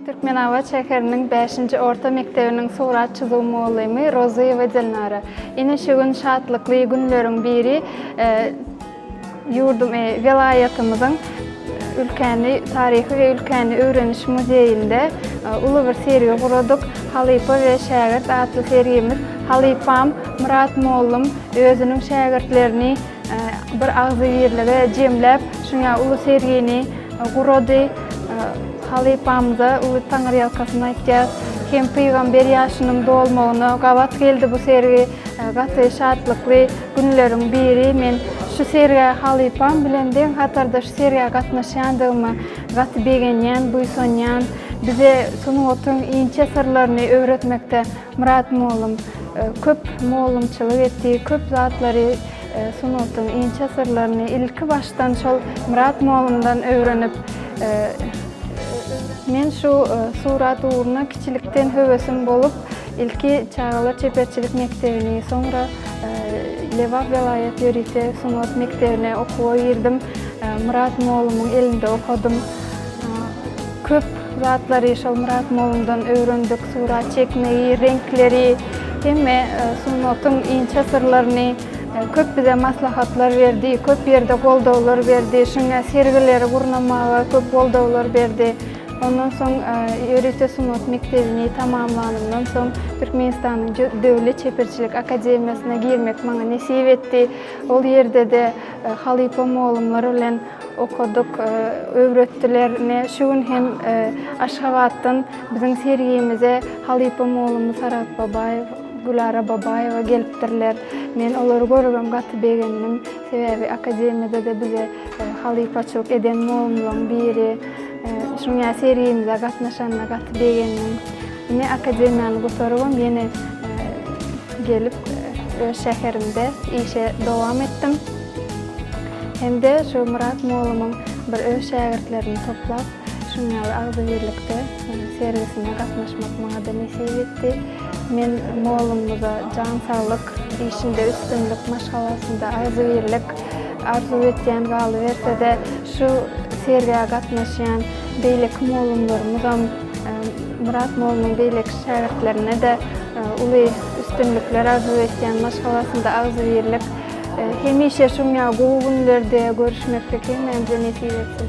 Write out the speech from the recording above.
Türkmenabat şäheriniň 5-nji orta mekdebiniň surat çyzuw mugallymy Rozyýewa Dilnara. Ine şu gün şatlykly günleriň biri e, ýurdum, e, welaýatymyzyň ülkäni taryhy we ülkäni öwreniş muzeýinde e, uly bir sergi guradyk. Halypa we şägirt atly sergimiz halypam Myrat mollum özüniň şägirtlerini Bir agzybirlige jemläp, şuňa uly sergini gurady. Halypamyza uly taňyrýalkasyn aýtýas. Hem pygamber ýaşynyň dolmagyna gabat geldi bu sergi. Gaty şatlykly günleriň biri. Men şu sergä halypam bilen deň hatarda şu sergä gatnaşýandygyma gaty begenýän, buýsanýan. Bize sungatyň inçe syrlaryny öwretmekde Myrat mugallym köp mugallymçylyk etdi, köp zatlary, sungatyň inçe syrlaryny ilki başdan şol Myrat mugallymdan öwrenip, men şu surat ugruna kiçilikden höwesim bolup, ilki çagalar çeperçilik mekdebini, soňra Lebap welaýat ýörite sungat mekdebine okuwa girdim. Myrat mugallymyň elinde okadym. Köp Şu zatlary Şolmyrat mollumdan öwrendik, surat çekmegi, reňkleri, hemme sungatyň inçe syrlaryny, köp bize maslahatlar berdi, köp ýerde goldawlar berdi, şuňa sergileri gurnamaga köp goldawlar berdi. Ondan soň ýörite sungat mekdebini tamamlanymdan soň Türkmenistanyň Döwlet çeperçilik akademiýasyna girmek maňa nesip etdi. Ol ýerde-de halypa mollumlar bilen Okadyk, öwretdiler. Ine, şu gün hem Aşgabatdan biziň sergimize halypa mugallymymyz Saragt Babaýew, Gülara Babaýewa gelipdirler. Men olary görübem gaty begendim. Sebäbi akademiýada-da bize halypaçylyk eden mugallymlaryň biri. Şuňa sergimize gatnaşanyna gaty begendim. Ine, akademiýany gutarybam ýene gelip, öz şäherimde işe dowam etdim. Hem-de şu Myrat mollumyň bir öz şägirtlerini toplap, şunuň ýaly agzybirlikde sergisine gatnaşmak maňa-da nesip etdi. Men mollumyza jan saglyk, işinde üstünlik, maşgalasynda agzybirlik arzuw etýän, galyberse-de, şu sergä gatnaşýan beýleki mollumlarymyzam Myrat mollumyň beýleki şägirtlerine-de uly üstünlikler arzuw etýän, maşgalasynda agzybirlik, Hemişe şuň ýaly gowy günlerde görüşmeklik hemmämize nesip etsin.